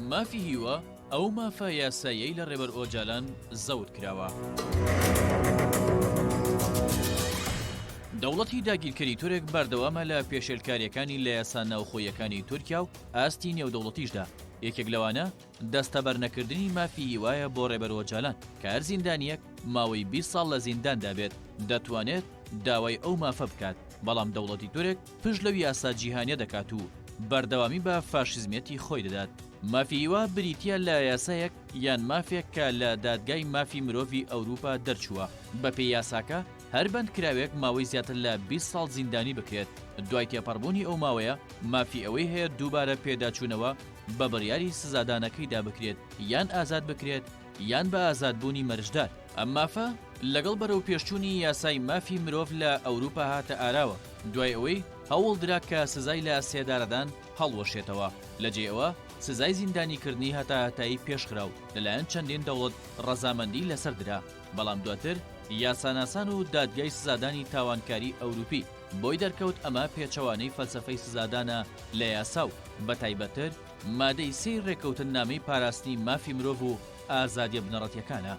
مافی هیوا، ئەو مافە یاساییەی لە ڕێبەر ئۆجالان زەوت کراوە. دەوڵەتی داگیرکەری تورک بەردەوامە لە پێشێلکارییەکانی لە یاسا ناوخۆییەکانی تورکیا و ئاستی نێودەوڵەتیشدا، یەکێک لەوانە دەستەبەرنەکردنی مافی هیوایە بۆ ڕێبەر ئۆجالان، کە هەر زیندانییەک ماوەی بیست ساڵ لە زینداندا بێت دەتوانێت داوای ئەو مافە بکات، بەڵام دەوڵەتی تورک پشت لەو یاسا جیهانیە دەکات و بەردەوامی بە فاشیزمیەتی خۆی دەدات. مافی هیوا بریتیە لە یاسایەک یان مافێک کە لە دادگای مافی مرۆڤی ئەوروپا دەرچووە. بەپێی یاساکە هەر بەندکراوێک ماوەی زیاتر لە بیست ساڵ زیندانی بکرێت، دوای تێپەڕبوونی ئەو ماوەیە مافی ئەوەی هەیە دووبارە پێداچوونەوە بە بڕیاری سزادانەکەیدا بکرێت یان ئازاد بکرێت، یان بە ئازادبوونی مەرجدار. ئەم مافە لەگەڵ بەرەوپێشچوونی یاسای مافی مرۆڤ لە ئەوروپا هاتە ئاراوە، دوای ئەوەی هەوڵ درا کە سزای لە سێدارەدان هەڵوەشێتەوە، لە جێی ئەوە سزای زیندانیکردنی هەتاهەتایی پێشخرا و لەلایەن چەندین دەوڵەت ڕەزامەندی لەسەر درا، بەڵام دواتر یاساناسان و دادگای سزادانی تاوانکاری ئەوروپی بۆی دەرکەوت ئەمە پێچەوانەی فەلسەفەی سزادانە لە یاسا و بەتایبەتتر مادەی سێی ڕێککەوتننامەی پاراستنی مافی مرۆڤ و ئازادییە بنەڕەتییەکانە.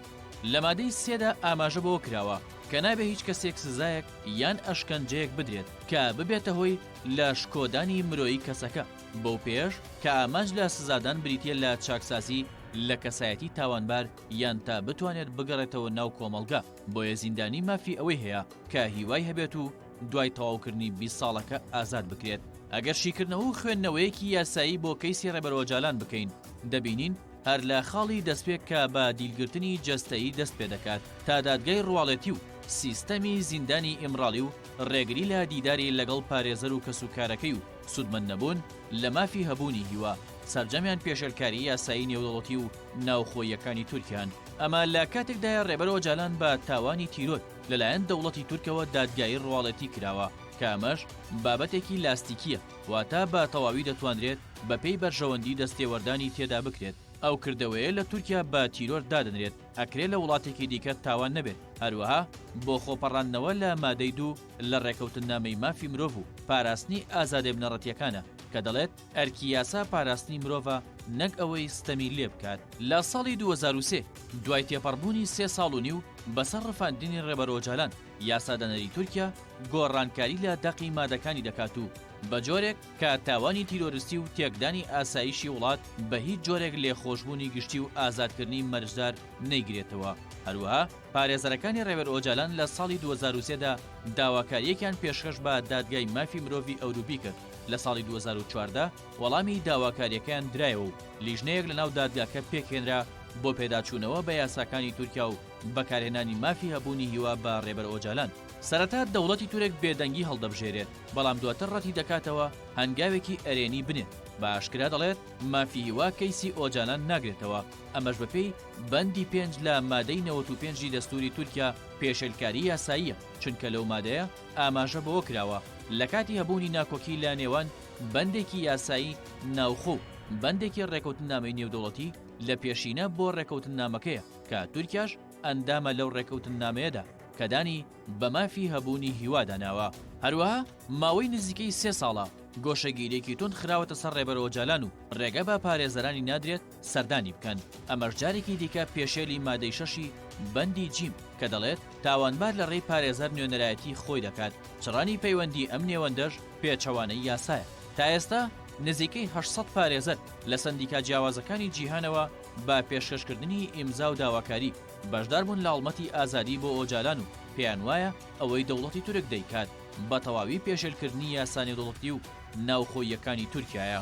لە مادەی سێدا ئاماژە بەوە کراوە کە نابێ هیچ کەسێک سزایەک یان ئەشکەنجەیەک بدرێت کە ببێتە هۆی لە شکۆدانی مرۆیی کەسەکە، بەو پێیەش کە ئامانج لە سزادان بریتییە لە چاکسازی لە کەسایەتی تاوانبار یان تا بتوانێت بگەڕێتەوە ناو کۆمەڵگە، بۆیە زیندانی مافی ئەوەی هەیە کە هیوای هەبێت و دوای تەواوکردنی بیست ساڵەکە ئازاد بکرێت. ئەگەر شیکردنەوە و خوێندنەوەیەکی یاسایی بۆ کەیسی ڕێبەر ئۆجالان بکەین، دەبینین هەر لە خاڵی دەستپێک کە بە دیلگرتنی جەستەیی دەست پێ دەکات تا دادگای ڕواڵەتی و سیستەمی زیندانی ئیمراڵی و ڕێگری لە دیداری لەگەڵ پارێزەر و کەسوکارەکەی و سوودمەند نەبوون لە مافی هەبوونی هیوا، سەرجەمیان پێشێلکاری یاسایی نێودەوڵەتی و ناوخۆییەکانی تورکیان. ئەمە لە کاتێکدایە ڕێبەر ئۆجالان بە تاوانی تیرۆر، لەلایەن دەوڵەتی تورکەوە دادگایی ڕواڵەتی کراوە، کە ئەمەش بابەتێکی لاستیکییە، واتە بە تەواوی دەتوانرێت بەپێی بەرژەوەندی دەستێوەردانی تێدا بکرێت. ئەو کردەوەیە لە تورکیا بە تیرۆر دادەنرێت، ئەکرێ لە وڵاتێکی دیکە تاوان نەبێت، هەروەها بۆ خۆپەڕاندنەوە لە مادەی دوو لە ڕێکەوتننامەی مافی مرۆڤ و پاراستنی ئازادێ بنەڕەتییەکانە، کە دەڵێت، ئەرکی یاسا پاراستنی مرۆڤە نەک ئەوەی ستەمی لێ بکات. لە ساڵی دوو هەزار و سێ، دوای تێپەڕبوونی سێ ساڵ و نیو بەسەر ڕفاندنی ڕێبەر ئۆجالان، یاسادانەری تورکیا گۆڕانکاری لە دەقی مادەکانی دەکات و بە جۆرێک کە تاوانی تیرۆرستی و تێکدانی ئاسایشی وڵات بە هیچ جۆرێک لێخۆشبوونی گشتی و ئازادکردنی مەرجدار نەیگرێتەوە. هەروەها پارێزەرەکانی ڕێبەر ئۆجالان لە ساڵی دوو هەزار و سێ دا داواکارییەکیان پێشکەش بە دادگای مافی مرۆڤی ئەوروپی کرد، لە ساڵی دوو هەزار و چواردە وەڵامی داواکارییەکەیان درایەوە و لیژنەیەک لەناو دادگاکە پێکهێنرا بۆ پێداچوونەوە بە یاساکانی تورکیا و بەکارهێنانی مافی هەبوونی هیوا بە رێبەر ئۆجالان. سەرەتا دەوڵەتی تورک بێدەنگی هەڵدەبژێرێت، بەڵام دواتر رەتیدەکاتەوە هەنگاوێکی ئەرێنی بنێت، بە ئاشکرا دەڵێت مافی هیوا کەیسی ئۆجالان ناگرێتەوە، ئەمەش بەپێی بەندی پێنج لە مادەی نەوەت و پێنج ی دەستوری تورکیا پێشێلکاری یاساییە، چونکە لەو مادەیە ئاماژە بەوە کراوە، لە کاتی هەبوونی ناکۆکی لە نێوان بەندێکی یاسایی ناوخۆ و بەندێکی ڕێکەوتننامەی نێودەوڵەتی لە پێشینە بۆ ڕێکەوتننامەکەیە کە تورکیاش ئەندامە لەو ڕێکەوتننامەیەدا کە دانی بە مافی هەبوونی هیوادا ناوە. هەروەها ماوەی نزیکەی سێ ساڵە گۆشەگیرییەکی توند خراوەتە سەر ڕێبەر ئۆجالان و ڕێگە بە پارێزەرانی نادرێت سەردانی بکەن، ئەمەش جارێکی دیکە پێشێلی مادەی شەشی بەندی جیم کە دەڵێت، تاوانبار لە ڕێی پارێزەر نوێنەرایەتی خۆی دەکات، چڕانی پەیوەندی ئەم نێوەندەش پێچەوانەی یاسایە. تا ئێستا نزیکەی هەشت سەد پارێزەر لە سەندیکا جیاوازەکانی جیهانەوە بە پێشکەشکردنی ئیمزا و داواکاری بەشداربوون لە هەڵمەتی ئازادی بۆ ئۆجالان و پێیانوایە ئەوەی دەوڵەتی تورک دەیکات بەتەواوی پێشێلکردنی یاسا نێودەوڵەتی و ناوخۆییەکانی تورکیایە.